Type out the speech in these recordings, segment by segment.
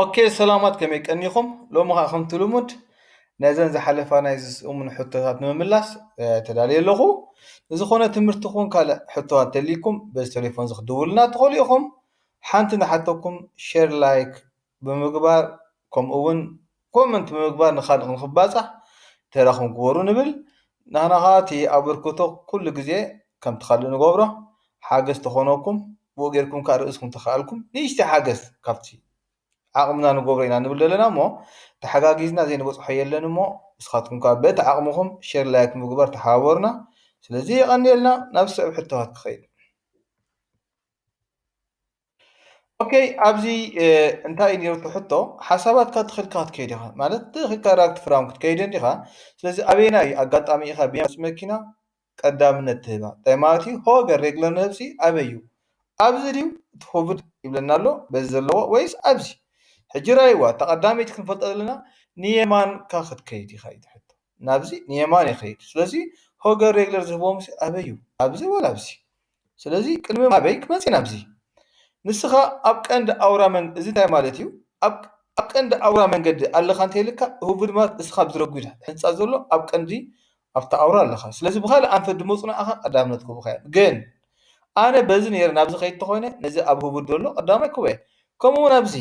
ኦኬ ሰላማት ከመይ ቀኒኹም ሎሚ ከዓ ከምቲ ልሙድ ነዘን ዝሓለፋ ናይ ዝስእሙን ሕቶታት ንምምላስ ተዳልየ ኣለኹ ንዝኾነ ትምህርቲ ኹን ካልእ ሕቶታት ተልይኩም በዚ ቴሌፎን እዚ ክትድውሉልና ትኽእሉ ኢኹም ሓንቲ ንሓተኩም ሸር ላይክ ብምግባር ከምኡ እውን ኮመንት ብምግባር ንካልእ ንክባፃሕ ተራኩም ግበሩ ንብል ናህና ካዓ እቲ ኣበርክቶ ኩሉ ግዜ ከምቲ ካሊእ ንገብሮ ሓገዝ ተኮነኩም ብኡ ገይርኩም ካዓ ርእስኩም ተካኣልኩም ንእሽተይ ሓገዝ ካብቲ ዓቅምና ንገብሮ ኢና ንብል ዘለና እሞ ታሓጋጊዝና ዘይንበፅሖ የለን እሞ ንስካትኩም ካዓ በቲ ዓቅምኩም ሸር ላይክ ምግባር ታሓባበሩና ስለዚ የቀንየልና ናብ ዝስዕብ ሕቶታት ክከይድ። ኦከይ ኣብዚ እንታይ እዩ ነይሩ ትሕቶ ሓሳባትካ ትኽልካ ክትከይድ ኢኻ ማለት ትኽልካ ራግቲ ፍራም ክትከይድ እንዲኻ ስለዚ ኣበየና እዩ ኣጋጣሚ ኢኻ ቢያንስ መኪና ቀዳምነት ትህባ እንታይ ማለት እዩ ሆገር ሬግለር ምህብሲ ኣበይ እዩ ኣብዚ ድዩ እቲ ኮቪድ ይብለና ኣሎ በዚ ዘለዎ ወይስ ኣብዚ ሕጂ ራይዋ እታ ቀዳመይቲ ክንፈልጦ ዘለና ንየማንካ ክትከይድ ኢኻ እዩ ትሕቶ ናብዚ ንየማን ይኸይድ ስለዚ ሆገር ሬግለር ዝህቦም ኣበይ እዩ ኣብዚ ወላ ኣብዚ ስለዚ ቅድሚ ኣበይ ክመጽ ኢና ኣብዚ? ንስኻ ኣብ ቀንዲ ኣውራ መንገዲ እዚ እንታይ ማለት እዩ? ኣብ ቀንዲ ኣውራ መንገዲ ኣለኻ እንተይልካ ህቡብ ድማ እስኻ ኣብዚ ረጒድ ሕንጻ ዘሎ ኣብ ቀንዲ ኣብታ ኣውራ ኣለኻ። ስለዚ ብኻልእ ኣንፈት ድሞጽናዕኻ ቀዳምነት ክህቡኻ እዮም። ግን ኣነ በዚ ነይረ ናብዚ ከይድ ተኾይነ ነዚ ኣብ ህቡብ ደሎ ቀዳማይ ክህቦ እየ። ከምኡ እውን ኣብዚ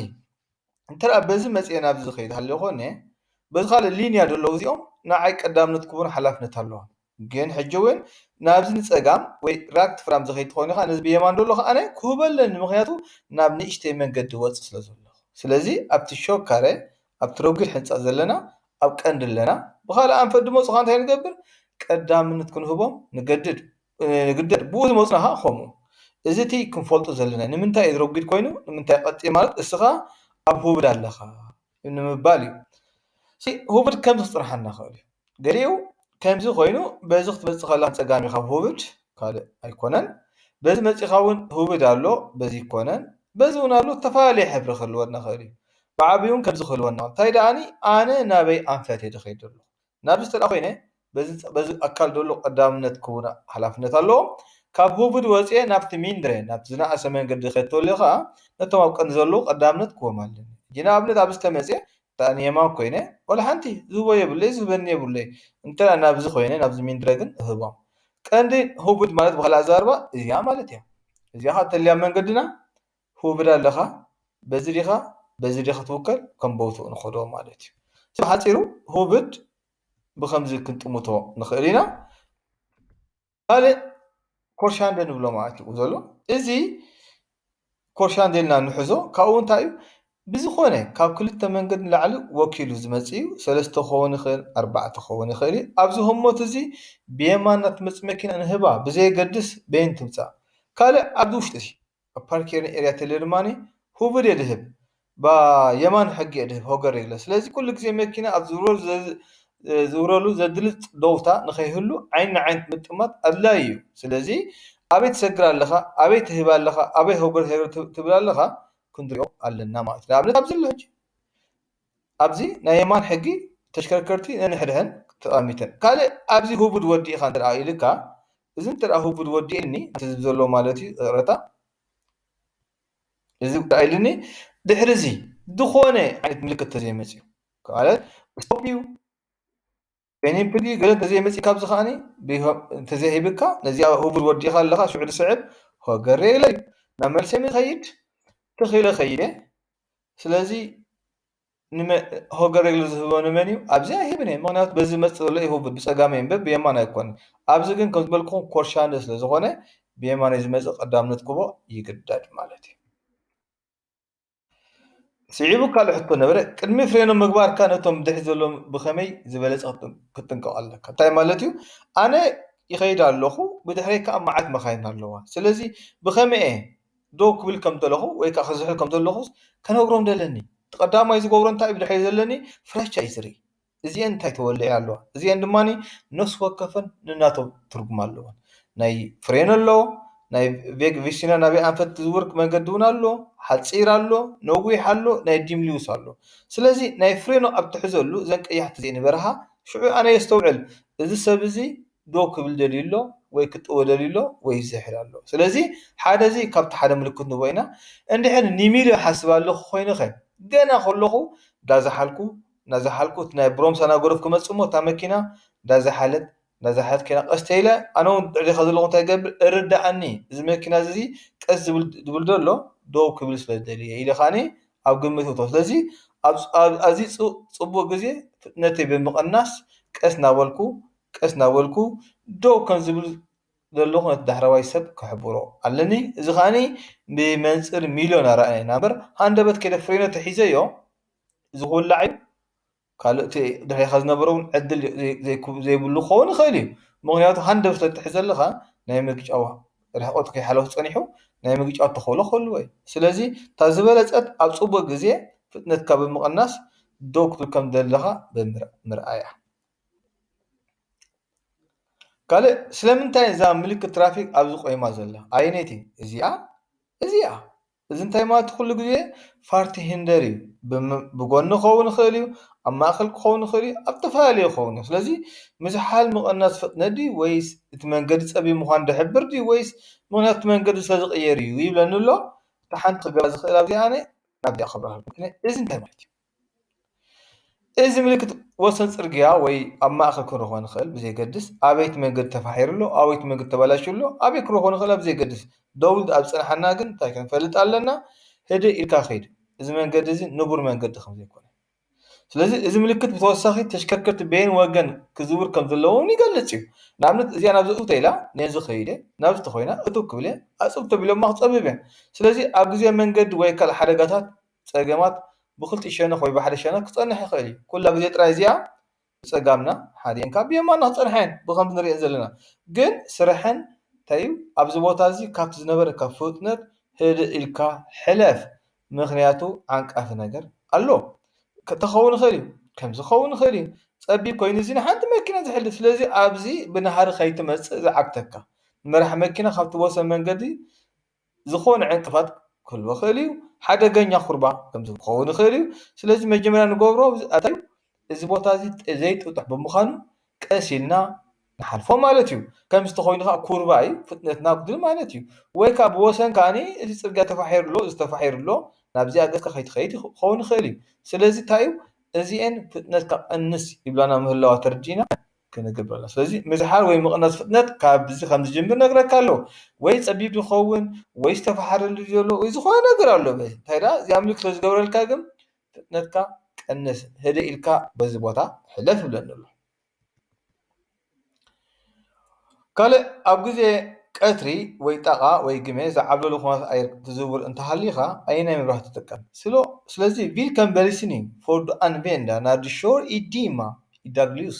እንተ በዚ መጺኤ ናብዚ ዝኸይድ ሃልዮ ኮይነ በዚ ካልእ ሊንያ ደለዉ እዚኦም ንዓይ ቀዳምነት ክህቡኒ ሓላፍነት ኣለዎም። ግን ሕጂ ውን ናብዚ ንጸጋም ወይ ራክት ፍራም እዚ ከይትኾን ኢኻ ነዚ ብየማን ዘሎ ከኣ ክህቦ ኣለኒ ምኽንያቱ ናብ ንእሽተይ መንገዲ ይወጽእ ስለ ዘለኹ ስለዚ ኣብቲ ሾክ ካረ ኣብቲ ረጒድ ሕንጻ ዘለና ኣብ ቀንዲ ኣለና ብኻልእ ኣንፈት ድሞ ጽኻ እንታይ ንገብር ቀዳምነት ክንህቦም ንገድድ ንግደድ ብኡ ዝመጹና ከኣ ከምኡ እዚ እቲ ክንፈልጦ ዘለና ንምንታይ እዚ ረጒድ ኮይኑ ንምንታይ ቀጢን ማለት እስኻ ኣብ ሁብድ ኣለኻ ንምባል እዩ። ሁብድ ከምዚ ክጽንሓና ክእል እዩ። ገሊኡ ከምዚ ኮይኑ በዚ ክትመጽእ ከለካ ንጸጋም ኢካ ሁብድ ካልእ ኣይኮነን። በዚ መጺካ እውን ሁብድ ኣሎ በዚ ኣይኮነን። በዚ እውን ኣሎ ዝተፈላለየ ሕብሪ ክህልወና ክእል እዩ። ብዓቢኡ እውን ከምዚ ክህልወና ክእል እዩ። እንታይ ደኣኒ ኣነ ናበይ ኣንፈት እየ ድከይድ ዘለኩ። ናብዚ ተድኣ ኮይነ በዚ በዚ ኣካል ዘሎ ቀዳምነት ክቡር ሓላፍነት ኣለዎ። ካብ ሁቭድ ወጺኤ ናብቲ ሚንድረ ናብቲ ዝነኣሰ መንገዲ ክኸድ ተልዮ ከኣ ነቶም ኣብ ቀንዲ ዘለዉ ቀዳምነት ክህቦም ኣለኒ። ሕጂ ንኣብነት ኣብዚ ተመጺኤ እንተድኣ ንየማን ኮይነ ዋላ ሓንቲ ዝህቦ የብለይ ዝህበኒ የብለይ እንተድኣ ናብዚ ኮይነ ናብዚ ሚንድረ ግን እህቦም። ቀንዲ ሁቭድ ማለት ብኻልእ ኣዘራርባ እዚኣ ማለት እያ። እዚኣ ከኣ ተልያ መንገድና ህቡብዶ ኣለኻ በዚ ዲኻ በዚ ዲኻ ክትውከል ከም ቦትኡ ንኸዶ ማለት እዩ። ብሓጺሩ ህቡብድ ብኸምዚ ክንጥምቶ ንኽእል ኢና። ካልእ ኮርሻንደ ንብሎ ማለት እዩ ዘሎ እዚ ኮርሻንደ ኢልና ንሕዞ ካብኡ እንታይ እዩ ብዝኾነ ካብ ክልተ መንገድ ንላዕሊ ወኪሉ ዝመጽእ እዩ ሰለስተ ክኸውን ይኽእል ኣርባዕተ ክኸውን ይኽእል እዩ ኣብዚ ህሞት እዚ ብየማና ትመጽእ መኪና ንህባ ብዘየገድስ በየን ትምጻእ ካልእ ኣብዚ ውሽጢ ኣብ ፓርኬሪ ኤርያ ተለ ድማኒ ሁብድ የድህብ ብ የማን ሕጊ የድህብ ሆገር የለ ስለዚ ኩሉ ግዜ መኪና ኣብ ዝዝውረሉ ዘድልጽ ዶውታ ንኸይህሉ ዓይኒ ዓይንቲ ምጥማት ኣድላይ እዩ ስለዚ ኣበይ ትሰግር ኣለኻ ኣበይ ትህብ ኣለኻ ኣበይ ሆገር ሄር ትብል ኣለኻ ክንድርኦ ኣለና ማለት እዩ ንኣብነት ኣብዚ ኣሎ ሕጂ ኣብዚ ናይ የማን ሕጊ ተሽከርከርቲ ነንሕድሕን ተጣሚተን ካልእ ኣብዚ ሁቡድ ወዲ ኢኻ እንተ ኢሉካ እዚ እንተ ሁቡድ ወዲ ኢልኒ ነቲ ህዝቢ ዘለዎ ማለት እዩ ይቕረታ እዚ ጉዳይ ኢልኒ ድሕሪ እዚ ዝኾነ ዓይነት ምልክት ተዘይመፅኡ ማለት ስቶፕ እዩ። ፔኒ ፕሊ ገለ እንተዘይ መጺካ ኣብዚ ከኣኒ እንተዘይ ሂብካ ነዚኣ ህቡብ ወዲካ ኣለካ ሽዑ ድስዕብ ሆገሬ ኢለ እዩ ናብ መልሰይ ምከይድ ትኽ ኢለ ከይደ ስለዚ ሆገሬ ኢለ ዝህቦ ንመን እዩ ኣብዚ ኣይህብን እየ ምክንያቱ በዚ መጽ ዘሎ እዩ ህቡብ ብጸጋመይ እምበር ብየማን ኣይኮን ኣብዚ ግን ከም ዝበልኩኹም ኮርሻንደ ስለ ዝኮነ ብየማነይ ዝመጽእ ቀዳምነት ክቦ ይግደድ ማለት እዩ ስዒቡ ካልእ ሕቶ ነበረ፣ ቅድሚ ፍሬኖ ምግባርካ ነቶም ብድሕሪት ዘለዉ ብኸመይ ዝበለጸ ክትጥንቀቕ ኣለካ? እንታይ ማለት እዩ? ኣነ ይኸይድ ኣለኹ፣ ብድሕረይ ከኣ መዓት መካይን ኣለዋ። ስለዚ ብኸመይ'የ ደው ክብል ከም ዘለኹ ወይ ከኣ ክዝሕል ከም ዘለኹስ ከነግሮም ደለኒ። እቲ ቀዳማይ ዝገብሮ እንታይ እዩ ብድሕረይ ዘለኒ ፍራቻ እዩ ዝርኢ። እዚኤን እንታይ ተወሊዐን ኣለዋ እዚኤን ድማ ነፍሲ ወከፈን ነናቶም ትርጉም ኣለወን ናይ ፍሬን ኣሎ ናይ ቬግ ቪሽና ናብ ኣንፈት ዝውርክ መንገዲ እውን ኣሎ ሓፂር ኣሎ ነዊሕ ኣሎ ናይ ዲምሊውስ ኣሎ ስለዚ ናይ ፍሬኖ ኣብ ትሕዘሉ እዘን ቀያሕቲ እዚኤን ይበርሃ ሽዑ ኣነ የስተውዕል እዚ ሰብ እዚ ደው ክብል ደልዩ ኣሎ ወይ ክጥወ ደልዩ ኣሎ ወይ ይዝሕል ኣሎ ስለዚ ሓደ እዚ ካብቲ ሓደ ምልክት ንቦ ኢና እንድሕር ንሚልዮ ሓስብ ኣለኹ ኮይኑ ኸ ገና ከለኹ እንዳዝሓልኩ ናዛሓልኩት ናይ ብሮም ሳናጎረፍ ክመጽእ እሞ እታ መኪና ዳዛሓለት ዳዛሓለት ከይና ቀስ ተይለ ኣነ ውን ድሕሪ ዲኻ ዘለኹ እንታይ ይገብር እርዳኣኒ እዚ መኪና እዚ ቀስ ዝብል ድብል ዶ ኣሎ ዶው ክብል ስለ ዝደልየ ኢለ ካኒ ኣብ ግምት እቶ ስለዚ ኣብ ኣዚ ጽቡቅ ግዜ ፍጥነተይ ብምቕናስ ቀስ ናበልኩ ቀስ ናበልኩ ዶው ከም ዝብል ዘለኹ ነቲ ዳሕረዋይ ሰብ ክሕብሮ ኣለኒ እዚ ካኒ ብመንጽር ሚልዮን ኣራኣየና እምበር ሃንደበት ከይደ ፍሬኖ ተሒዘዮ እዚ ክውላዕ እዩ ካልእ እቲ ድሕሬኻ ዝነብር እውን ዕድል ዘይብሉ ክኸውን ይኽእል እዩ። ምኽንያቱ ሃንደብ ስለ እትሕዝ ዘለኻ ናይ ምግጫው ርሕቐቱ ከይሓለወ ተጸኒሑ ናይ ምግጫው ተኽእሎ ክህልዎ እዩ። ስለዚ እታ ዝበለጸት ኣብ ጽቡቕ ግዜ ፍጥነትካ ብምቕናስ ደው ክትብል ከም ዘለኻ ምርኣይ እያ። ካልእ ስለምንታይ እዛ ምልክት ትራፊክ ኣብዚ ቆይማ ዘላ ኣየነይቲ እዚኣ እዚኣ እዚ እንታይ ማለት'ዩ ኩሉ ግዜ ፋርቲ ሂንደር እዩ ብጎኒ ክኸውን ይኽእል እዩ ኣብ ማእከል ክኸውን ይኽእል እዩ ኣብ ዝተፈላለየ ክኸውን እዩ ስለዚ ምዝሓል ምቕናስ ፍጥነት ድዩ ወይስ እቲ መንገዲ ጸቢብ ምዃኑ ዝሕብር ድዩ ወይስ ምኽንያቱ እቲ መንገዲ ስለ ዝቕየር እዩ ይብለኒ ኣሎ እታ ሓንቲ ክገብራ ዝኽእል ኣብዚኣ ኣነ ናብዚኣ ክብርሃልኩም እዚ እንታይ ማለት'ዩ? እዚ ምልክት ወሰን ፅርግያ ወይ ኣብ ማእኸል ክኾን ይኽእል ብዘየገድስ ኣበየት መንገዲ ተፋሒሩ ኣሎ ኣበየት መንገዲ ተበላሽዩ ኣሎ ኣበይ ክኾን ይኽእል ኣሎ ብዘየገድስ ደው ኢሉ ኣብ ዝፀንሓና ግን እንታይ ክንፈልጥ ኣለና ህድእ ኢልካ ኺድ እዚ መንገዲ እዚ ንቡር መንገዲ ከም ዘይኮነ ስለዚ እዚ ምልክት ብተወሳኺ ተሽከርከርቲ በየን ወገን ክዝውር ከም ዘለዎ እውን ይገልፅ እዩ ንኣብነት እዚኣ ናብዚ እትው እንተኢላ ነዚ ኸይደ እየ ናብዚ እንተኾይና እትው ክብል እየ ኣፅብብ እንተቢሎማ ክፀብብ እየ ስለዚ ኣብ ግዜ መንገዲ ወይ ካልእ ሓደጋታት ጸገማት ብኽልቲኡ ሸነኽ ወይ ብሓደ ሸነኽ ክጸንሕ ይኽእል እዩ። ኩላ ግዜ ጥራይ እዚኣ ብጸጋምና ሓዲኤን ካብ ብየማንና ክጸንሓ እየን ብኸምዚ ንርእየን ዘለና። ግን ስርሐን እንታይ እዩ ኣብዚ ቦታ እዚ ካብቲ ዝነበረካ ፍጥነት ህድእ ኢልካ ሕለፍ ምኽንያቱ ዓንቃፊ ነገር ኣሎ። ተኸውን ይኽእል እዩ ከምዚ ክኸውን ይኽእል እዩ ጸቢብ ኮይኑ እዚ ንሓንቲ መኪና ዝሕልፍ ስለዚ ኣብዚ ብናህሪ ከይትመጽእ ዝዓግተካ መራሒ መኪና ካብቲ ወሰን መንገዲ ዝኾነ ዕንቅፋት ክህልዎ ይኽእል እዩ። ሓደገኛ ኩርባ ከምዚ ክኸውን ይኽእል እዩ። ስለዚ መጀመርያ ንገብሮ ኣታይ እዩ እዚ ቦታ እዚ ዘይጥጡሕ ብምዃኑ ቀስ ኢልና ንሓልፎ ማለት እዩ። ከምዚ ተኾይኑ ከኣ ኩርባ እዩ ፍጥነትና ኣጉድል ማለት እዩ። ወይ ከኣ ብወሰን ከኣ እዚ ጽርግያ ተፋሒሩ ኣሎ እዚ ተፋሒሩ ኣሎ ናብዚኣ ገጽካ ከይትኸይድ ክኸውን ይኽእል እዩ። ስለዚ እንታይ እዩ እዚኤን ፍጥነትካ ቀንስ ይብላና ምህላዋ ተርዲእና። ክንገብር ኣለና ስለዚ ምዝሓል ወይ ምቕናስ ፍጥነት ካብዚ ከም ዝጅምር ነግረካ ኣለዎ ወይ ጸቢብ ይኸውን ወይ ዝተፈሓረሉ ዘሎ ወይ ዝኾነ ነገር ኣሎ እንታይ ደኣ እዚኣ ምልክት ስለ ዝገብረልካ ግን ፍጥነትካ ቀንስ ህደእ ኢልካ በዚ ቦታ ሕለፍ ይብለኒ ኣሎ ካልእ ኣብ ግዜ ቀትሪ ወይ ጣቓ ወይ ግመ ዝዓብለሎ ኩነታት ኣየር ክትዝውር እንተሃሊኻ ኣየናይ መብራህቲ ትጥቀም? ስለዚ ቪልከም በሊስኒንግ ፎር ዱ ኣንቬንዳ ናር ዲ ሾር ኢ ዲማ ኢ ዳግልዩስ።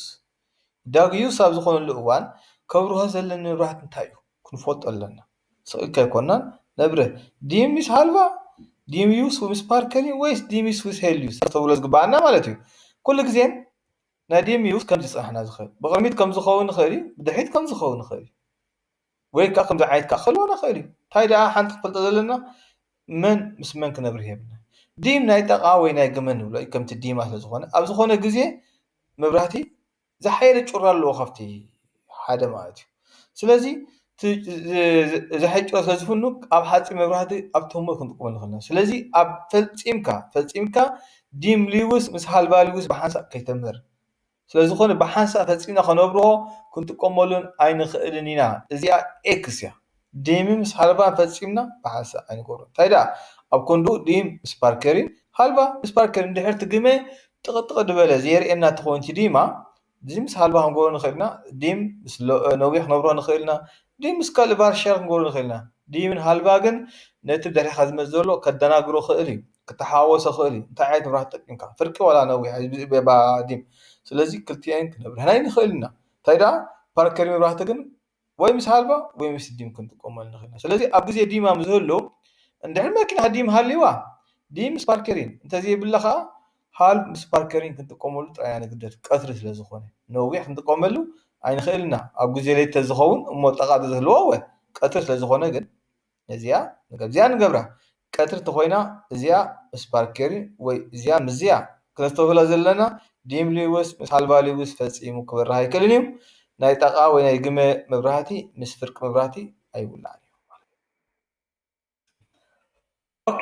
ኢ ዳግልዩስ ኣብ ዝኾነሉ እዋን ከብርሆ ዘለኒ መብራህቲ እንታይ እዩ? ክንፈልጦ ኣለና። ስቕ ኢልካ ኣይኮናን ነብርህ ዲም ምስ ሃልቫ፣ ዲም ዩስ ምስ ፓርከሪ ወይስ ዲም ዩስ ምስ ሄልዩስ? ክነስተብህሎ ዝግበኣና ማለት እዩ። ኩሉ ግዜ። ናይ ዴሜውስ ከምዚ ክጸናሕና ዝክእል ብቅድሚት ከምዚ ክከውን ይክእል እዩ ብድሕሪት ከምዚ ክከውን ይክእል እዩ ወይ ከኣ ከምዚ ዓይነት ከኣ ክህልወና ይክእል እዩ ታይ ደኣ ሓንቲ ክንፈልጦ ዘለና መን ምስ መን ክነብርህ የብልናን ዲም ናይ ጠቃ ወይ ናይ ግመ ንብሎ እዩ ከምቲ ዲማ ስለ ዝኮነ ኣብ ዝኮነ ግዜ መብራህቲ ዝሓየለ ጩራ ኣለዎ ካብቲ ሓደ ማለት እዩ። ስለዚ እቲ እዚ ሕጮ ተዝህሉ ኣብ ሓፂን መብራህቲ ኣብ ቶሞ ክንጥቀመሉ ንኽእል ኢና። ስለዚ ኣብ ፈፂምካ ፈፂምካ ዲም ሊውስ ምስ ሃልባ ሊውስ ብሓንሳእ ከይተምር። ስለዝኾነ ብሓንሳእ ፈፂምና ከነብርሆ ክንጥቀመሉን ኣይንኽእልን ኢና። እዚኣ ኤክስ እያ። ዲም ምስ ሃልባ ፈፂምና ብሓንሳእ ኣይንገብሮን። እንታይ ደኣ ኣብ ኮንዱ ዲም ምስ ፓርከሪን ሃልባ ምስ ፓርከርን እንድሕር እቲ ግመ ጥቕጥቕ ዝበለ ዘየርእየና እንተኾይኑ እቲ ዲማ ዲም ምስ ሃልባ ክንገብሮ ንኽእል ኢና፣ ዲም ምስ ነዊሕ ክንገብሮ ንኽእል ኢና፣ ዲም ምስ ካልእ ቫርሸር ክንገብሮ ንኽእል ኢና። ዲምን ሃልባ ግን ነቲ ብድሕሬኻ ዝመጽእ ዘሎ ከደናግሮ ይኽእል እዩ፣ ክተሓዋወሶ ይኽእል እዩ፣ እንታይ ዓይነት መብራህቲ ተጠቂምካ ፍርቂ ዋላ ነዊሕ ብዘይ ዲም። ስለዚ ክልቲኤን ክነብርሀን ኣይንኽእልን ኢና። እንታይ ደኣ ፓርከር መብራህቲ ግን። ወይ ምስ ሃልባ ወይ ምስ ዲም ክንጥቀመሉ ንኽእል ኢና። ስለዚ ኣብ ግዜ ዲም ምስ ዝህሉ እንድሕሪ መኪና ዲም ሃልይዋ ዲም ምስ ፓርከሪን እንተዘይብላ ከኣ ሃልብ ምስ ፓርከሪን ክንጥቀመሉ ጥራይ ኢና ንግደድ ቀትሪ ስለ ዝኾነ ነዊሕ ክንጥቀመሉ ኣይንኽእልን ኢና ኣብ ግዜ ለይቲ ተዝኸውን እሞ ጠቃ ተዝህልዋ እወ ቀትሪ ስለ ዝኾነ ግን ነዚኣ ንገብዚኣ ንገብራ ቀትሪ ተኾይና እዚኣ ምስ ባርኬሪ ወይ እዚኣ ምስዚኣ ክነስተብህሎ ዘለና ዲም ሊውስ ምስ ሃልባ ሊውስ ፈጺሙ ክበርህ ኣይክእልን እዩ ናይ ጣቓ ወይ ናይ ግመ መብራህቲ ምስ ፍርቂ መብራህቲ ኣይውላዕን እዩ ኦኬ።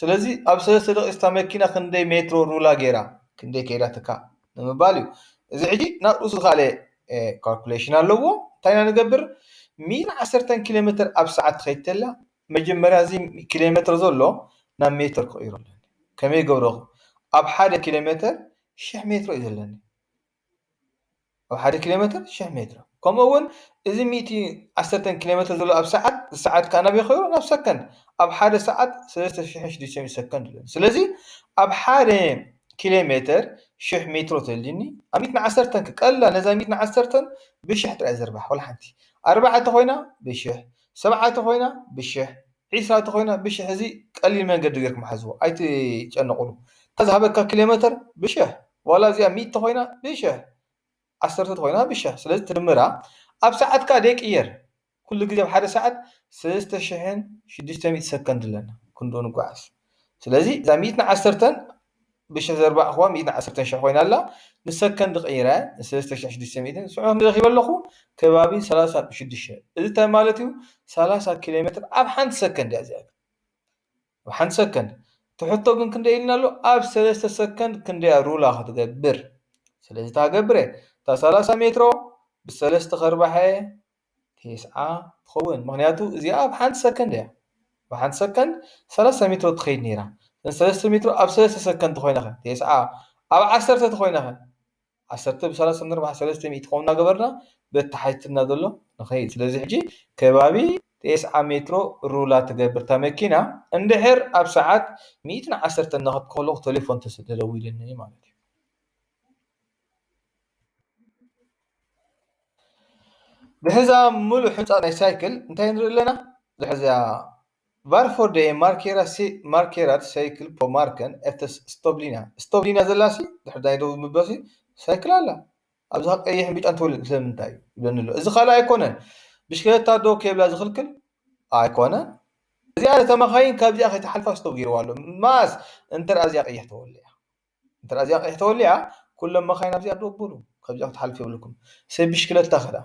ስለዚ ኣብ ሰለስተ ደቂቅ መኪና ክንደይ ሜትሮ ሩላ ጌራ ክንደይ ከይዳትካ ንምባል እዩ እዚ ሕጂ ናብ ርእሱ ዝኸኣለ ካልኩሌሽን ኣለዎ እንታይ ኢና ንገብር ሚኢቲ ዓሰርተ ኪሎ ሜትር ኣብ ሰዓት ትኸይድ ተላ መጀመርያ እዚ ኪሎ ሜትር ዘሎ ናብ ሜትር ክቕይሮ ኣለኒ ከመይ ገብረኹ ኣብ ሓደ ኪሎ ሜትር ሽሕ ሜትሮ እዩ ዘለኒ ኣብ ሓደ ኪሎ ሜትር ሽሕ ሜትሮ ከምኡ እውን እዚ ሚእቲ ዓሰርተን ኪሎ ሜትር ዘሎ ኣብ ሰዓት እዚ ሰዓት ክዓ ናበይ ከይዱ ናብ ሰከንድ ኣብ ሓደ ሰዓት ሰለስተ ሽሕን ሽዱሽተ ሚእትን ሰከንድ ኣሎ ስለዚ ኣብ ሓደ ኪሎ ሜትር ሽሕ ሜትሮ ተልዩኒ ኣብ ሚእትን ዓሰርተን ከ ቀሊላ ነዛ ሚእትን ዓሰርተን ብሽሕ ጥራይ ዘርባሕ ወላ ሓንቲ ኣርባዓ ተኾይና ብሽሕ ሰብዓ ተኾይና ብሽሕ ዒስራ ተኾይና ብሽሕ እዚ ቀሊል መንገዲ ገርኩም ሓዝዎ ኣይትጨነቁሉ እታ ዝሃበካ ኪሎመተር ብሽሕ ዋላ እዚኣ ሚእቲ ተኾይና ብሽሕ ዓሰርተ ተኾይና ብሽሕ ስለዚ ትድምራ ኣብ ሰዓት ከኣ ደይቅየር ኩሉ ግዜ ኣብ ሓደ ሰዓት ሰለስተ ሽሕን ሽዱሽተ ሚእቲ ሰከንድ ኣለና ክንድኡ ንጎዓዝ። ስለዚ እዛ ሚእትን ዓሰርተን ብሽሕ ዘርባዕኹዋ ሚእትን ዓሰርተን ሽሕ ኮይና ኣላ ንሰከንድ ቀይረ ሰለስተ ሽሕ ሽዱሽተ ሚእትን ስዑ ክንዲ ረኺበ ኣለኹ ከባቢ ሰላሳ ሽዱሽተ እዚ እንታይ ማለት እዩ ሰላሳ ኪሎ ሜትር ኣብ ሓንቲ ሰከንድ እያ እዚኣ ኣብ ሓንቲ ሰከንድ እቲ ሕቶ ግን ክንደይ ኢልና ኣሎ ኣብ ሰለስተ ሰከንድ ክንደያ ሩላ ክትገብር ስለዚ ታገብረ እታ ሰላሳ ሜትሮ ብሰለስተ ከርባሐ ቴስዓ ትኸውን ምኽንያቱ እዚኣ ኣብ ሓንቲ ሰከንድ እያ ብሓንቲ ሰከንድ ሰለስተ ሜትሮ ትኸይድ ነይራ ሰለስተ ሜትሮ ኣብ ሰለስተ ሰከንድ ተኾይነ ኸ ቴስዓ ኣብ ዓሰርተ ተኾይነ ኸ ዓሰርተ ብሰላሳ ንርብዓ ሰለስተ ሚእቲ ከምኡ እናገበርና በተሓትትና ዘሎ ንኸይድ ስለዚ ሕጂ ከባቢ ቴስዓ ሜትሮ ሩላ ትገብር እታ መኪና እንድሕር ኣብ ሰዓት ሚእትን ዓሰርተ እናኸድኩ ከለኹ ቴሌፎን ተደዊሉኒ ማለት እዩ ድሕሪ እዛ ምሉእ ሕንጻጽ ናይ ሳይክል እንታይ ንርኢ ኣለና? ድሕሪ እዚኣ Varför de markerar cyklar på marken efter stövlarna? stövlarna ዘላ ሲ ድሕሪ ናይ ደቡብ ምበሲ ሳይክል ኣላ። ኣብዛ ከኣ ቀይሕን ብጫን ትብል ስለምንታይ? ይብለኒ ኣሎ። እዚ ካልእ ኣይኮነን ብሽክለታ ደው ከይብላ ዝኽልክል ኣይኮነን። እዚኣ ነታ መካይን ካብዚኣ ከይትሓልፋ ስቶብ ጌርዋ ኣሎ። መኣስ እንተ እዚኣ ቀይሕ ተወሊዓ። እንተ እዚኣ ቂሕ ተወሊዓ ኩሎም መካይን ኣብዚኣ ዶብ በሉ ካብዚኣ ክትሓልፉ የብልኩም ሰብ ብሽክለታ ከኣ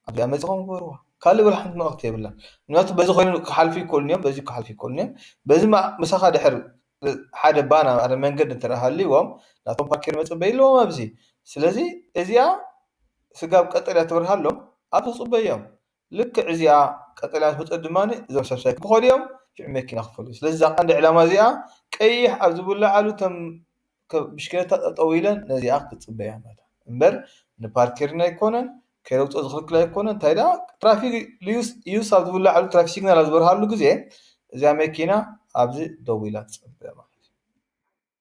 ኣብዚኣ መጺኹም ግበርዋ ካልእ ወላ ሓንቲ መልእኽቲ የብላን ምክንያቱ በዚ ኮይኑ ክሓልፉ ይክእሉ እዮም በዚ ክሓልፉ ይክእሉ እዮም በዚ ምሳኻ ድሕር ሓደ ባና ሓደ መንገዲ እንተ ሃልይዎም ናቶም ፓኪር መጽበይ ኣለዎም ኣብዚ ስለዚ እዚኣ ስጋብ ቀጠልያ ትበርሃሎም ኣብዚ ክጽበዩ እዮም ልክዕ እዚኣ ቀጠልያ ትሕዝቶ ድማ እዞም ሰብ ሳይክል ክኸዱ እዮም ሽዑ መኪና ክፈልዩ ስለዚ እዛ ቀንዲ ዕላማ እዚኣ ቀይሕ ኣብ ዝብለዓሉ እተን ብሽክለታ ጠጠው ኢለን ነዚኣ ክጽበያ ኣለዋ እምበር ንፓርኬርን ኣይኮነን ከይረግጾ ዝኽልክል ኣይኮነን እንታይ ደኣ ትራፊክ ልዩስ ዩስ ኣብ ዝብለዓሉ ትራፊክ ሲግናል ኣብ ዝበርሃሉ ግዜ እዚኣ መኪና ኣብዚ ደው ኢላ ትጽበ ማለት እዩ።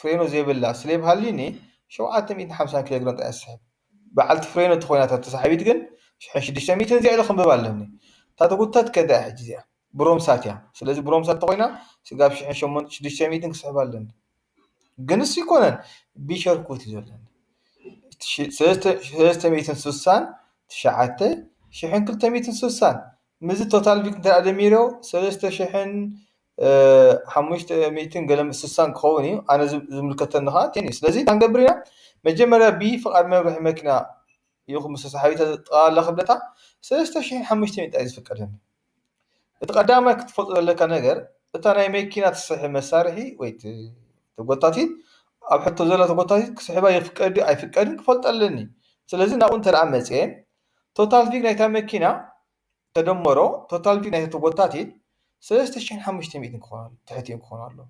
ፍሬኖ ዘይብላ ስሌብ ሃልዩኒ ሸውዓተ ሚእትን ሓምሳን ኪሎ ግራም ጥራይ እያ ትስሕብ በዓልቲ ፍሬኖ ተኾይና እታ ተሳሓቢት ግን ሽሕን ሽዱሽተን ሚእትን እዚኣ ኢለ ከንብባ ኣለኒ እታ ተጉተት ከ እንታይ እያ ሕጂ እዚኣ ብሮምሳት እያ ስለዚ ብሮምሳት ተኾይና ስጋብ ሽሕን ሸሞንትን ሽዱሽተን ሚእትን ክስሕብ ኣለኒ ግን እሱ ኣይኮነን ቢሸርኩት እዩ ዘለኒ ሰለስተ ሚእትን ስሳን ትሽዓተ ሽሕን ክልተ ሚእትን ስሳን ምዚ ቶታል ቢክ እንተ ደሚሮ ሰለስተ ሽሕን ሓሙሽተ ሚእትን ገለ ስሳን ክኸውን እዩ ኣነ ዝምልከተኒ ከዓ ቴን እዩ ስለዚ እንታይ ንገብር ኢና መጀመርያ ብ ፍቓድ መብርሒ መኪና ይኹን ምስ ሰሓቢታ ጥቓ ኣላ ክብለታ ሰለስተ ሽሕን ሓሙሽተ ሚእታ እዩ ዝፍቀደኒ እቲ ቀዳማይ ክትፈልጦ ዘለካ ነገር እታ ናይ መኪና ትስሕብ መሳርሒ ወይ ተጎታቲት ኣብ ሕቶ ዘላ ተጎታቲት ክስሕባ ይፍቀድ ድዩ ኣይፍቀድን ክፈልጦ ኣለኒ ስለዚ ናብኡ እንተ መፅየ ቶታል ቪግ ናይታ መኪና ተደመሮ ቶታል ቪክ ናይ'ቲ ተጎታቲ ሰለስተ ሽሕን ሓሙሽተ ሚእትን ትሕቲኡ ክኾን ኣለዎ።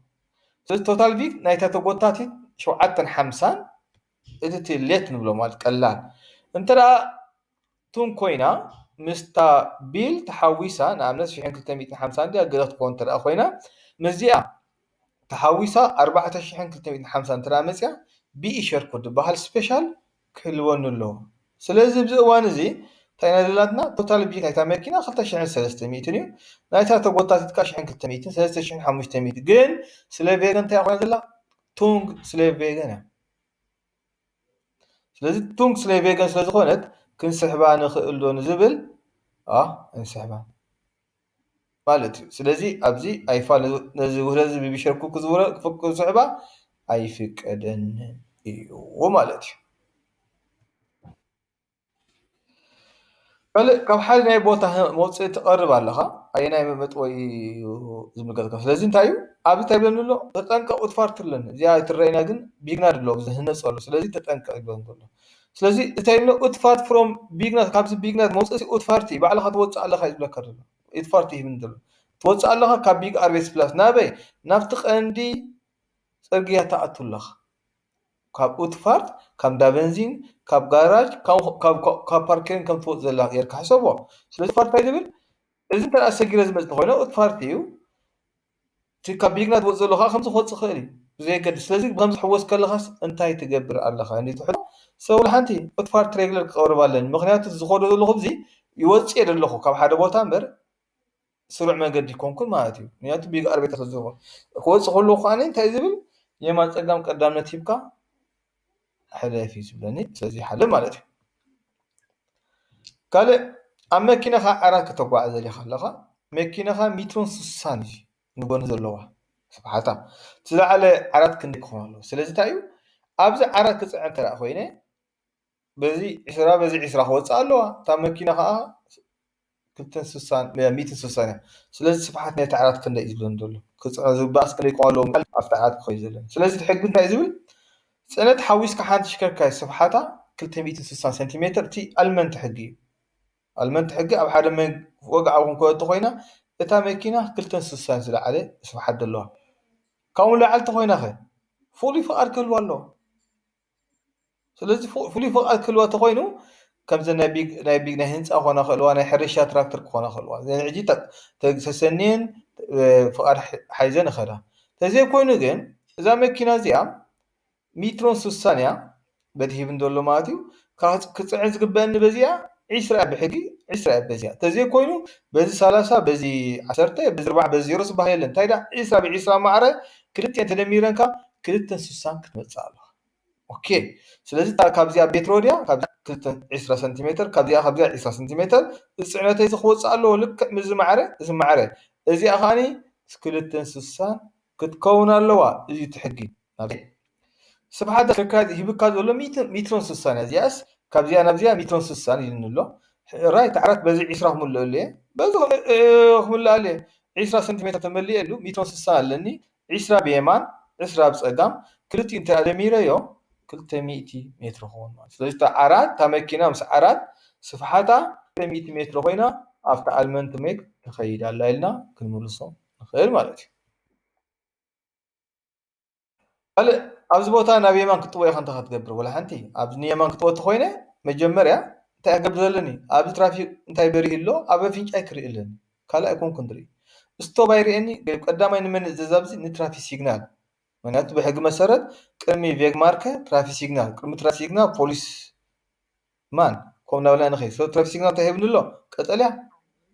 ስለዚ ቶታል ቪክ ናይ'ታ ተጎታቲት ሸውዓተን ሓምሳን እቲ እቲ ሌት ንብሎ ማለት ቀላል እንተ ደኣ ቱን ኮይና ምስታ ቢል ተሓዊሳ ንኣብነት ሽሕን ክልተ ሚእትን ሓምሳን ድያ ገለ ክትከውን እንተ ደኣ ኮይና ምስዚኣ ተሓዊሳ ኣርባዕተ ሽሕን ክልተ ሚእትን ሓምሳን እንተ ደኣ መጺኣ ቢኢ ሸር ኮድ ዝበሃል ስፔሻል ክህልወኒ ኣለዎ ስለዚ ኣብዚ እዋን እዚ እንታይ ኢና ዘላትና ቶታል ብጀት ናይታ መኪና ክልተ ሽሕን ሰለስተ ሚእትን እዩ ናይታ ተጎታቲት ከኣ ሽሕን ክልተ ሚእትን ሰለስተ ሽሕን ሓሙሽተ ሚእቲ ግን ስለ ቬገን እንታይ ኮይና ዘላ ቱንግ ስለ ቬገን እያ ስለዚ ቱንግ ስለ ቬገን ስለ ዝኾነት ክንስሕባ ንኽእል ዶ ንዝብል ኣ እንስሕባ ማለት እዩ። ስለዚ ኣብዚ ኣይፋል ነዚ ውህደትዚ ብብሸርኩ ክስሕባ ኣይፍቀደንን እዩ ማለት እዩ። ካልእ ካብ ሓደ ናይ ቦታ መውፅኢ ትቐርብ ኣለኻ ኣየናይ መጥወይ እዩ ዝምልከትካ ስለዚ እንታይ እዩ ኣብዚ እንታይ ይብለኒ ኣሎ ተጠንቀቕ ኡትፋርት ትብለኒ እዚኣ ኣይትረኣይና ግን ቢግናድ ኣሎ ዝህነፅ ኣሎ ስለዚ ተጠንቀቕ ይብለኒ ዘሎ። ስለዚ እታይ እሞ ኡት ፋርት ፍሮም ቢግናት ካብዚ ቢግናት መውጽእሲ ኡት ፋርቲ ባዕልኻ ትወጽእ ኣለኻ እዩ ዝብለካ ዘሎ ኡት ፋርቲ ይህብኒ ዘሎ ትወጽእ ኣለኻ ካብ ቢግ ኣርቤት ፕላስ ናበይ ናብቲ ቀንዲ ጽርግያ ትኣቱ ኣለኻ ካብ ኡት ፋርት ካብ እንዳ በንዚን ካብ ጋራጅ ካብ ፓርኬን ከም ትወጽእ ዘላ ጌርካ ሕሰቦ ስለዚ ፋርቲ ዝብል እዚ እንተ ሰጊረ ዝመጽእ ኮይነ ኡት ፋርቲ እዩ እቲ ካብ ብልግና ትወጽእ ዘሎ ከኣ ከምዚ ክወጽእ ይኽእል እዩ ብዘየገድስ ስለዚ ብኸምዚ ሕወስ ከለኻስ እንታይ ትገብር ኣለኻ እንድዩ እቲ ሕቶ ሰብ ወላ ሓንቲ ዑትፋር ትሬግለር ክቐርብ ኣለኒ ምኽንያቱ እዚ ዝኸዶ ዘለኹ ብዚ ይወጽእ እየ ዘለኹ ካብ ሓደ ቦታ እምበር ስሩዕ መንገዲ ኣይኮንኩን ማለት እዩ ምኽንያቱ ቢግ ኣርቤተር ስለዝኾንኩ ክወጽእ ከለኹ ከኣ እንታይ እዩ ዝብል የማን ጸጋም ቀዳምነት ሂብካ ሕለፊ ዝብለኒ ስለዘይሓለ ማለት እዩ። ካልእ ኣብ መኪናኻ ዓራት ከተጓዕዝ ደሊኻ ኣለኻ መኪናኻ ሜትሮን ስሳን እዩ ንጎኒ ዘለዋ ስብሓታ እቲ ዝለዓለ ዓራት ክንደይ ክኾን ኣለዎ ስለዚ እንታይ እዩ ኣብዚ ዓራት ክፅዕን እንተድኣ ኮይነ። በዚ ዕስራ በዚ ዕስራ ክወፅኣ ኣለዋ እታ መኪና ካዓ ክልተን ስሳን ሚእትን ስሳን እያ ስለዚ ስፍሓት ናይቲ ዓራት ክንደይ እዩ ዝብለኒ ዘሎ ክፅዕኖ ዝግበኣስ ክንደይ ክኮን ኣለዎ ምባል ኣብቲ ዓራት ክከይድ ዘለኒ ስለዚ እቲ ሕጊ እንታይ እዩ ዝብል ፅዕነት ሓዊስካ ሓንቲ ተሽከርካሪት ስፍሓታ ክልተ ሚእትን ስሳን ሴንቲሜትር እቲ ኣልመንቲ ሕጊ እዩ ኣልመንቲ ሕጊ ኣብ ሓደ ወግዓዊ ክንኮ እንተኮይና እታ መኪና ክልተን ስሳን ዝለዓለ ስፍሓት ዘለዋ ካብኡ ንላዕሊ እንተኮይና ከ ፍሉይ ፍቃድ ክህልዋ ኣለዎ ስለዚ ፍሉይ ፍቓድ ክህልዋ እንተኾይኑ ከምዚ ናይ ቢግ ናይ ቢግ ናይ ህንጻ ክኾና ይኽእልዋ፣ ናይ ሕርሻ ትራክተር ክኾና ይኽእልዋ። እዘን ሕጂ ተ ተ- ሰሰንየን እ፣ ፍቓድ ሕ- ሓይዘን ይኸዳ። ተዘይኮይኑ ግን እዛ መኪና እዚኣ ሚትሮን ስሳን እያ በቲ ሂብን ዘሎ ማለት እዩ። ካብ ክጽዕን ዝግበአኒ በዚኣ ዒስራ እያ ብሕጊ ዒስራ እያ በዚኣ። ተዘይኮይኑ በዚ ሰላሳ በዚ ዓሰርተ በዚ ኣርባዓ በዚ ዜሮ ዝበሃል የለን። እንታይ ደኣ ዒስራ ብዒስራ ማዕረ ክልቲኤን ተደሚረን ከኣ ክልተ ስሳን ክትመጽእ ኣለዋ ኦኬ ስለዚ እታ ካብዚኣ ቤት ሮድያ ካብዚኣ ክልተ ዕስራ ሰንቲሜተር ካብዚኣ ካብዚኣ ዕስራ ሰንቲሜተር እዚ ጽዕነተይ እዚ ክወጽእ ኣለዎ ልክዕ ምስዚ ማዕረ እዚ ማዕረ እዚኣ ከኣኒ ክልተን ስሳን ክትከውን ኣለዋ እዚ እቲ ሕጊ ስብሓት ኣስፍካ ሂብካ ዘሎ ሚትሮን ስሳን እያ እዚኣስ ካብዚኣ ናብዚኣ ሚትሮን ስሳን ኢሉኒ ኣሎ ራይት ዓራት በዚ ዒስራ ክምልኣሉ እየ በዚ ክምልኣሉ እየ ዒስራ ሰንቲሜትር ተመሊኤሉ ሚትሮን ስሳን ኣለኒ ዒስራ ብየማን ዕስራ ኣብ ፀጋም ክልቲኡ እንተ ኣደሚረዮ ክልተ ሚእቲ ሜትሮ ክኸውን ማለት ስለዚ እታ ዓራት እታ መኪና ምስ ዓራት ስፍሓታ ክልተ ሚእቲ ሜትሮ ኮይና ኣብቲ ኣልመንት ሜግ ትኸይድ ኣላ ኢልና ክንምልሶ ንኽእል ማለት እዩ ካልእ ኣብዚ ቦታ ናብ የማን ክትጥወ ኢኻ እንታይ ክትገብር ወላ ሓንቲ ኣብ ንየማን ክትወ ተኾይነ መጀመርያ እንታይ ክገብር ዘለኒ ኣብዚ ትራፊክ እንታይ በሪሁ ኣሎ ኣብ ኣፍንጫይ ክርኢ ኣለኒ ካልእ ኣይኮንኩን ዝርኢ ስቶብ ኣይርእየኒ ቀዳማይ ንመን እዘዝ ኣብዚ ንትራፊክ ሲግናል ምክንያቱ ብሕጊ መሰረት ቅድሚ ቬግማርከ ትራፊክ ሲግናል ቅድሚ ትራፊክ ሲግናል ፖሊስ ማን ኮም ናብላኒ ከይ ስለ ትራፊክ ሲግናል ታይ ሂብኒ ኣሎ ቀጠልያ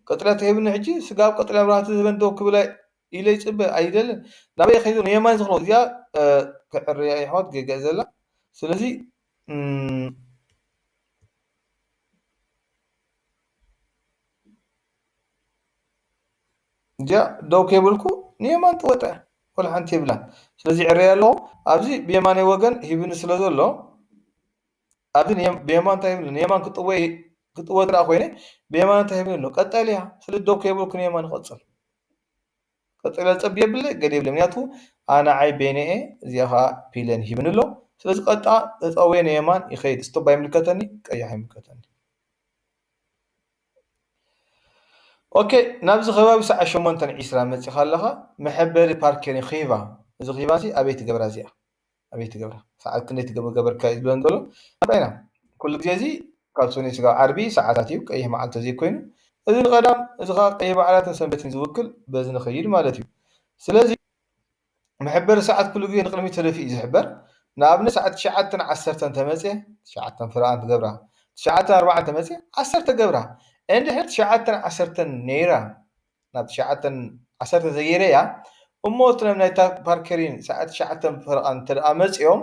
ቀጠልያ ተሂብኒ ሕጂ ስጋብ ቀጠልያ መብራህቲ ዝህበኒ ደው ክብል ኢለ ይጽበ ኣይደልን ናበይ እየ ከይዱ ንየማን ዝኮ እዚኣ ክዕርያ የሕዋት ጌጋ እዩ ዘላ ስለዚ እዚኣ ደው ከይብልኩ ንየማን ትወጠ ወላ ሓንቲ የብላን ስለዚ ዕረየ ኣለኹ ኣብዚ ብየማነይ ወገን ሂብኒ ስለ ዘሎ ኣብዚ ብየማን እንታይ ይብል ኣሎ ንየማን ክጥወ እንተ ኮይነ ብየማን እንታይ ይብል ኣሎ ቀጠልያ ስለዚ ደው ከይበልኩ ንየማን ይቐጽል ቀጠልያ ዝጸቢ የብለ ገለ የብለ ምክንያቱ ኣነዓይ በይነ እየ እዚኣ ከዓ ፒለን ሂብኒ ኣሎ ስለዚ ቀጥታ ተጠውየ ንየማን ይኸይድ ስቶባ ይምልከተኒ ቀያሕ ይምልከተኒ ኦኬ ናብዚ ከባቢ ሰዓት ሸሞንተን ዒስራ መፂኻ ኣለኻ መሐበሪ ፓርኬር ኺቫ እዚ ኺቫ እዚ ኣበይ ትገብራ እዚኣ ኣበይ ትገብራ ሰዓት ክንደይ ትገብሪ ገበርካዮ ዝብለን ዘሎ ንርኣና ኩሉ ግዜ እዚ ካብ ሰኑይ ስጋብ ዓርቢ ሰዓታት እዩ ቀይሕ መዓልቲ ተዘይኮይኑ እዚ ንቀዳም እዚ ከኣ ቀይሕ በዓላትን ሰንበትን ዝውክል በዚ ንከይድ ማለት እዩ ስለዚ መሐበሪ ሰዓት ኩሉ ግዜ ንቅድሚት ተደፊኡ እዩ ዝሕበር ንኣብነት ሰዓት ትሽዓተን ዓሰርተን እንተመፅየ ትሽዓተን ፍረኣን ትገብራ ትሽዓተን ኣርባዓን እንተመፅየ ዓሰርተ ገብራ እንድሕር ትሽዓተን ዓሰርተን ነይራ ናብ ትሽዓተን ዓሰርተ ዘይረያ እሞ እቲ ናይ ናይ ፓርከሪን ሰዓት ትሽዓተ ፈረቓ እንተደኣ መጺኦም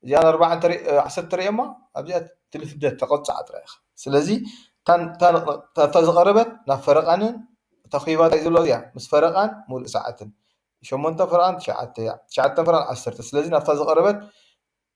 እዚኣ ኣርባዓ እንተ ዓሰርተ ተርእዮማ ኣብዚኣ ትልፍደት ተቐጻዕ ጥራይ ኢኻ ስለዚ እታ ዝቐረበት ናብ ፈረቓንን እታ ኺባ ታይ ዘሎ እያ ምስ ፈረቓን ሙሉእ ሰዓትን ሸሞንተ ፈረቓን ትሽዓተ እያ ትሽዓተ ፈረቓን ዓሰርተ ስለዚ ናብታ ዝቐረበት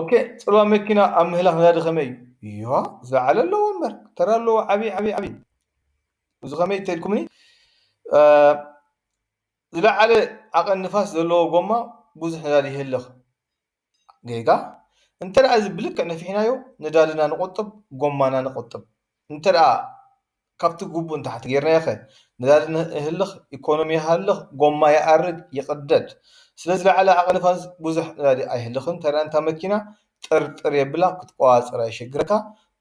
ኦኬ ጽባ መኪና ኣብ ምህላኽ ነዳዲ ከመይ እዩ ዮ ዝለዓለ ኣለዎ እምበር ተራ ኣለዎ ዓብዪ ዓብዪ ዓብዪ እዚ ከመይ ተልኩምኒ ዝለዓለ ዓቐን ንፋስ ዘለዎ ጎማ ብዙሕ ነዳዲ ይህልኽ ጌጋ እንተ እዚ ብልክዕ ነፊሕናዮ ነዳድና ንቆጥብ ጎማና ንቆጥብ እንተድኣ ካብቲ ግቡእ ንታሕቲ ጌርናዮኸ? ነዳዲ ይህልኽ፣ ኢኮኖሚ ይሃልኽ፣ ጎማ ይኣርግ ይቕደድ። ስለ ዝለዓለ ዓቕን ንፋስ ብዙሕ ነዳዲ ኣይህልኽን፣ እንተድኣ እታ መኪና ጥርጥር የብላ ክትቆጻጸራ የሸግረካ።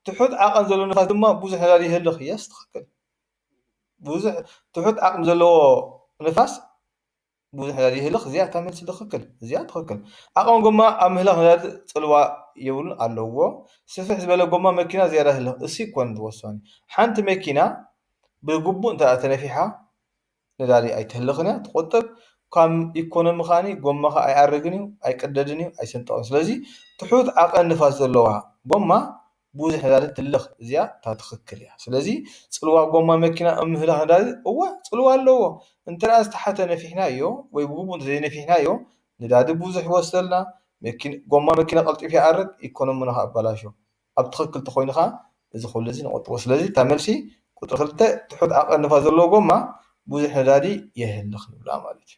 ትሑት ዓቐን ዘለዎ ንፋስ ድማ ብዙሕ ነዳዲ ይህልኽ፣ Yes ትኽክል። ብዙሕ ትሑት ዓቕሚ ዘለዎ ንፋስ። ብዙሕ ነዳዲ ይህልኽ እዚኣ እታ መልሲ ትኽክል እዚኣ ትኽክል ዓቕሚ ጎማ ኣብ ምህላኽ ነዳዲ ፅልዋ የብሉን ኣለዎ ስፍሕ ዝበለ ጎማ መኪና ዝያዳ ህልኽ እሲ ኮን ወሳኒ ሓንቲ መኪና ብግቡእ እንተ ተነፊሓ ነዳዲ ኣይትህልኽን እያ ትቆጥብ ካብ ኢኮኖሚ ከዓኒ ጎማኻ ኣይኣርግን እዩ ኣይቅደድን እዩ ኣይስንጠቕን ስለዚ ትሑት ዓቐን ንፋስ ዘለዋ ጎማ ቡዙሕ ነዳዲ ትልኽ እዚኣ እታ ትኽክል እያ ስለዚ ጽልዋ ጎማ መኪና ኣብ ምህላኽ ነዳዲ እወ ጽልዋ ኣለዎ እንተ ደኣ ዝተሓተ ነፊሕናዮ ወይ ብግቡእ እንተ ዘይነፊሕናዮ ነዳዲ ቡዙሕ ይወስደልና መኪና ጎማ መኪና ቀልጢፉ ይኣርግ ኢኮኖሚና ከኣ ይበላሾ ኣብ ትኽክል ተኾይኑ ከኣ እዚ ኩሉ እዚ ንቑጥቦ ስለዚ እታ መልሲ ቁጽሪ ክልተ ትሑት ኣቐንፋ ዘለዎ ጎማ ቡዙሕ ነዳዲ የህልኽ ንብላ ማለት እዩ።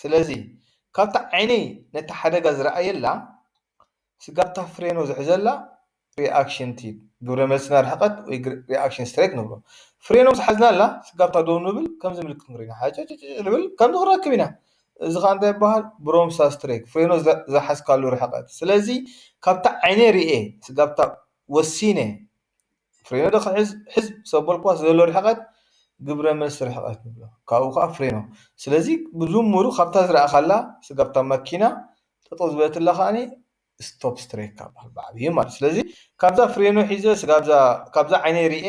ስለዚ ካብታ ዓይኒ ነቲ ሓደጋ ዝረኣየላ ስጋብ እታ ፍሬኑ ዝሕዘላ ሪኣክሽን ትሂብ ግብረ መልሲ ናይ ርሕቐት ወይ ሪኣክሽን ስትሬክ ንብሎ። ፍሬኑ ምስ ሓዝናላ ስጋብ እታ ደው ንብል ከምዚ ምልክት ክንርኢ ኢና ሓጨጭጭጭ ንብል ከምዚ ክንረክብ ኢና እዚ ከኣ እንታይ ይበሃል ብሮምሳ ስትሬክ ፍሬኑ ዝሓዝካሉ ርሕቐት ስለዚ ካብታ ዓይኒ ሪኤ ስጋብ እታ ወሲነ ፍሬኖ ዶ ክሕዝ ሕዝ ምስ ኣበልኩዋ ዘሎ ርሕቐት ግብረ መልሲ ርሕቐት ንብሎ። ካብኡ ከኣ ፍሬኖ። ስለዚ ብድምሩ ካብታ ዝረኣኻላ ስጋብ እታ ማኪና ጠጠው ዝበለትላ ከኣ ስቶፕ ስትሬካ ይበሃል ብዓብዩ ማለት። ስለዚ ካብዛ ፍሬኖ ሒዘ ስጋብዛ ካብዛ ዓይነይ ርኤ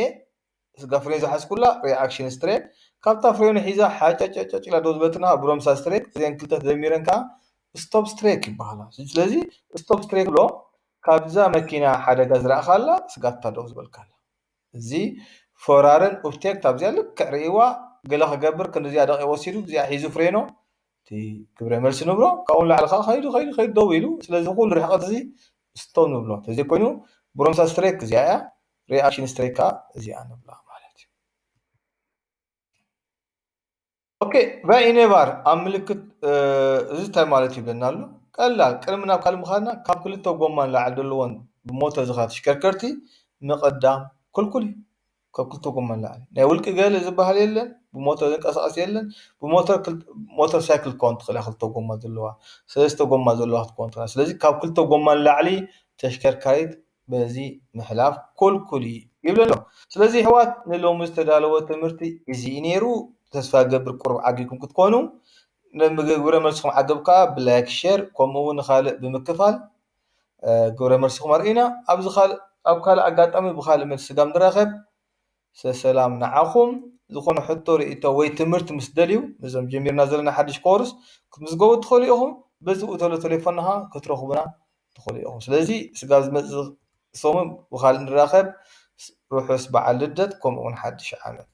ስጋብ ፍሬኖ ዝሓዝኩላ ሪኣክሽን ስትሬክ ካብታ ፍሬኖ ሒዛ ሓጨጨጨጭ ኢላ ደው ዝበለትና ከኣ ብሮምሳ ስትሬክ እዚኣን ክልተ ተደሚረን ከኣ ስቶፕ ስትሬክ ይበሃላ። ስለዚ ስቶፕ ስትሬክ ንብሎ። ካብዛ መኪና ሓደጋ ዝረኣኻላ ስጋታ ደው ዝበልካላ እዚ ፎራርን ኡፍቴክ ታብዚኣ ልክዕ ርእይዋ ገለ ክገብር ክንድዚኣ ደቒቕ ወሲዱ እዚኣ ሒዙ ፍሬኖ እቲ ግብረ መልሲ ንብሎ ካብኡ ንላዕሊ ከኣ ከይዱ ከይዱ ከይዱ ደው ኢሉ ስለዚ ኩሉ ርሕቐት እዚ ስቶ ንብሎ እንተዘይኮይኑ ብሮምሳ ስትሬክ እዚኣ እያ ሪኣክሽን ስትሬክ ከኣ እዚኣ ንብላ ማለት እዩ ኦኬ ቫይኔቫር ኣብ ምልክት እዚ እንታይ ማለት ይብለና ኣሎ ቀላል ቅድሚ ናብ ካልእ ምዃንና ካብ ክልተ ጎማ ንላዕሊ ዘለዎን ብሞተ ዝኻ ተሽከርከርቲ ምቕዳም ክልኩል እዩ ካብ ክልተ ጎማ ንላዕሊ ናይ ውልቂ ገለ ዝበሃል የለን ብሞተር ዝንቀሳቐስ የለን ብሞተር ሞተር ሳይክል ክኸውን ትኽእል እያ ክልተ ጎማ ዘለዋ ሰለስተ ጎማ ዘለዋ ክትከውን ትኽእል ስለዚ ካብ ክልተ ጎማ ንላዕሊ ተሽከርካሪት በዚ ምሕላፍ ኩልኩል እዩ ይብል ኣሎ ስለዚ የሕዋት ንሎሚ ዝተዳለወ ትምህርቲ እዚ እዩ ኔሩ ተስፋ ይገብር ቁሩብ ዓጊብኩም ክትኮኑ ግብረ መልስኩም ዓገብ ከኣ ብላይክ ሸር ከምኡ ውን ንካልእ ብምክፋል ግብረ መልስኩም ኣርእዩና ኣብዚ ካልእ ኣብ ካልእ ኣጋጣሚ ብካልእ መልሲ ስጋብ ንራከብ ሰሰላም ንዓኹም ዝኾነ ሕቶ ሪኢቶ ወይ ትምህርት ምስ ደልዩ ነዞም ጀሚርና ዘለና ሓድሽ ኮርስ ክትምዝገቡ ትኽእሉ ኢኹም በዚ ኡ ተሎ ተሌፎና ኸኣ ክትረኽቡና ትኽእሉ ኢኹም ስለዚ ስጋብ ዝመጽእ ሰሙን ብኻልእ ንራኸብ ርሑስ በዓል ልደት ከምኡ ውን ሓድሽ ዓመት።